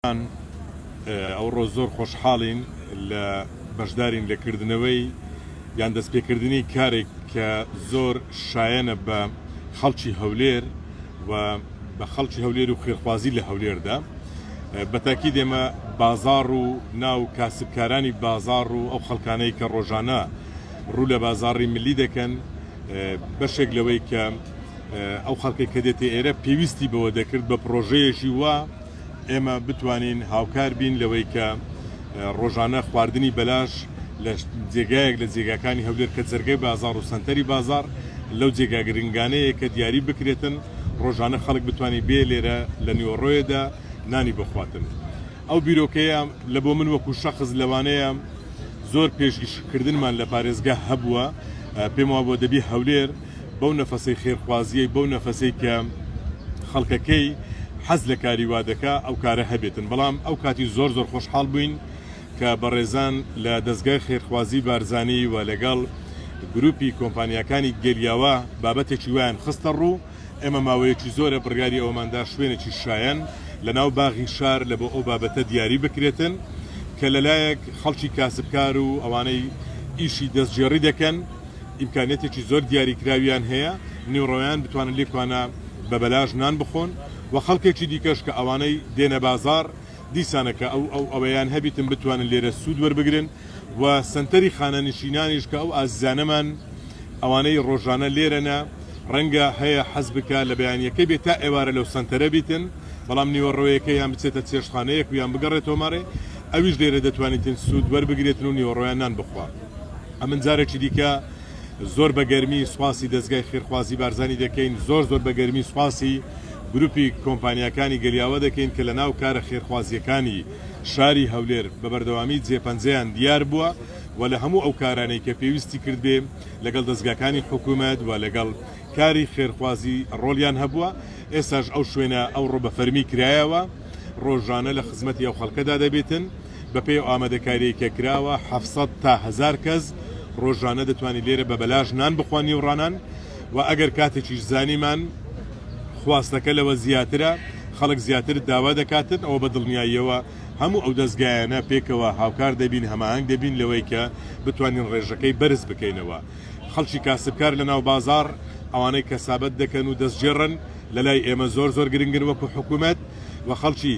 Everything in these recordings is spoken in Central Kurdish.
گیان ئەوڕۆ زۆر خۆشحاڵین لە بەشدارین لە کردنەوەی یان دەستپێکردنی کارێک کە زۆر شایەنە بە خەڵکی هەولێر و بە خەڵکی هەولێر و خێرخوازی لە هەولێردا بەتاکی دێمە بازار و ناو کاسبکارانی بازار و ئەو خەڵکانەی کە ڕۆژانە ڕوو لە بازاری ملی دەکەن بەشێک لەوەی کە ئەو خەڵکی کە دێتە ئێرە پێویستی بەوە دەکرد بە پرۆژەیەکی وە ئێمە بتوانین هاوکار بین لەوەی کە ڕۆژانە خواردنی بەلاش لە جێگایەک لە جێگاکانی هەولێر کە جەرگەی بازار و سەنتەری بازار لەو جێگا گرنگانەیە کە دیاری بکرێتن ڕۆژانە خەڵک بتانی بێ لێرە لە نیوەڕۆیەدا نانی بخواتن ئەو بیرۆکەیە لە بۆ من وەکو شەخص لەوانەیە زۆر پێشگیشکردنمان لە پارێزگە هەبووە پێم وا بۆ دەبی هەولێر بەو نەفەسەی خێرخوازیەی بەو نەفەسەی کە خەڵکەکەی حەز لە کاری وا دەکا ئەو کارە هەبێتن بەڵام ئەو کاتی زۆر زۆر خۆشحاڵ بووین کە بەڕێزان لە دەزگای خێرخوازی بارزانی و لەگەڵ گروپی کۆمپانیاکانی گەلیاوە بابەتێکی وایان خستە ڕوو ئێمە ماوەیەکی زۆرە بڕیاری ئەوەماندا شوێنێکی شایەن لە ناو باغی شار لە بۆ ئەو بابەتە دیاری بکرێتن کە لەلایەک خەڵکی کاسبکار و ئەوانەی ئیشی دەستگێڕی دەکەن ئیمکانیەتێکی زۆر دیاریکراویان هەیە نیوڕۆیان بتوانن لێکوانە بە بەلاش نان بخۆن و خەڵکێکی دیکەش کە ئەوانەی دێنە بازاڕ دیسانە کە ئەو ئەو ئەوەیان هەبیتن بتوانن لێرە سوود وەربگرن و سەنتەری خانەنشینانیش کە ئەو ئازیزانەمان ئەوانەی ڕۆژانە لێرەنە ڕەنگە هەیە حەز بکە لە بەیانیەکەی بێ تا ئێوارە لەو سەنتەرە بیتن بەڵام نیوەڕۆیەکە یان بچێتە چێشتخانەیەک و یان بگەڕێتەوە ماڕێ ئەویش لێرە دەتوانیتن سوود وەربگرێتن و نیوەڕۆیان نان بخوا. ئەمن جارێکی دیکە زۆر بە گەرمی سوپاسی دەزگای خێرخوازی بارزانی دەکەین زۆر زۆر بە گەرمی سوپاسی گروپی کۆمپانیاکانی گەلیاوە دەکەین کە لە ناو کارە خێرخوازیەکانی شاری هەولێر بە بەردەوامی جێپەنجەیان دیار بووە و لە هەموو ئەو کارانەی کە پێویستی کردبێ لەگەڵ دەستگاکانی حکوومەت و لەگەڵ کاری خێرخوازی ڕۆلیان هەبووە ئێستاش ئەو شوێنە ئەو ڕۆ بە فەرمی کرایەوە ڕۆژانە لە خزمەتی ئەو خەڵکەدا دەبێتن. بەپێی ئەو ئامادەکاریەی کە کراوە حەفت سەد تا هەزار کەس ڕۆژانە دەتوانین لێرە بە بەلاش نان بخوان نیوڕانان و ئەگەر کاتێکیش زانیمان خواستەکە لەوە زیاترە خەڵک زیاتر داوا دەکاتن ئەوە بە دڵنیاییەوە هەموو ئەو دەستگایانە پێکەوە هاوکار دەبین هەماهەنگ دەبین لەوەی کە بتوانین ڕێژەکەی بەرز بکەینەوە خەڵکی کاسبکار لە ناو بازار ئەوانەی کەسابەت دەکەن و دەستگێڕن لە لای ئێمە زۆر زۆر گرنگن وەکو حکوومەت و خەڵکی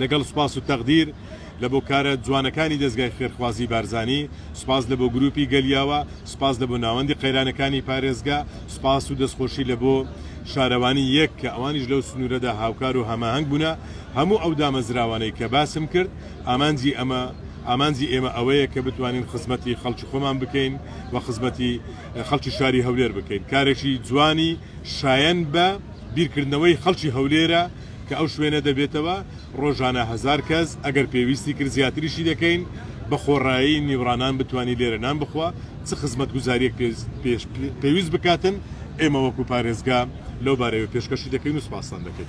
لەگەڵ سوپاس و تەقدیر لە بۆ کارە جوانەکانی دەزگای خێرخوازی بارزانی، سوپاس لە بۆ گروپی گەل یاوە، سوپاس لە بۆ ناوەندی قەیرانەکانی پارێزگا، سوپاس و دەستخۆشی لە بۆ شارەوانی یەک کە ئەوانیش لەو سنورەدا هاوکار و هەماهەنگ بونە، هەموو ئەو دامەزراوانەی کە باسم کرد ئامانجی ئەمە ئامانجی ئێمە ئەوەیە کە بتوانین خزمەتی خەڵکی خۆمان بکەین و خزمەتی خەڵکی شاری هەولێر بکەین کارێکی جوانی شایەن بە بیرکردنەوەی خەڵکی هەولێرە کە ئەو شوێنە دەبێتەوە ڕۆژانە هەزار کەس، ئەگەر پێویستی کرد زیاتریشی دەکەین، بە خۆڕایی نیوڕانان بتوانی لێرە نان بخوا، چ خزمەتگوزارییەک پێویست بکاتن، ئێمە وەکو پارێزگا لەو بارەوە پێشکەشی دەکەین و سوپاستان دەکەین.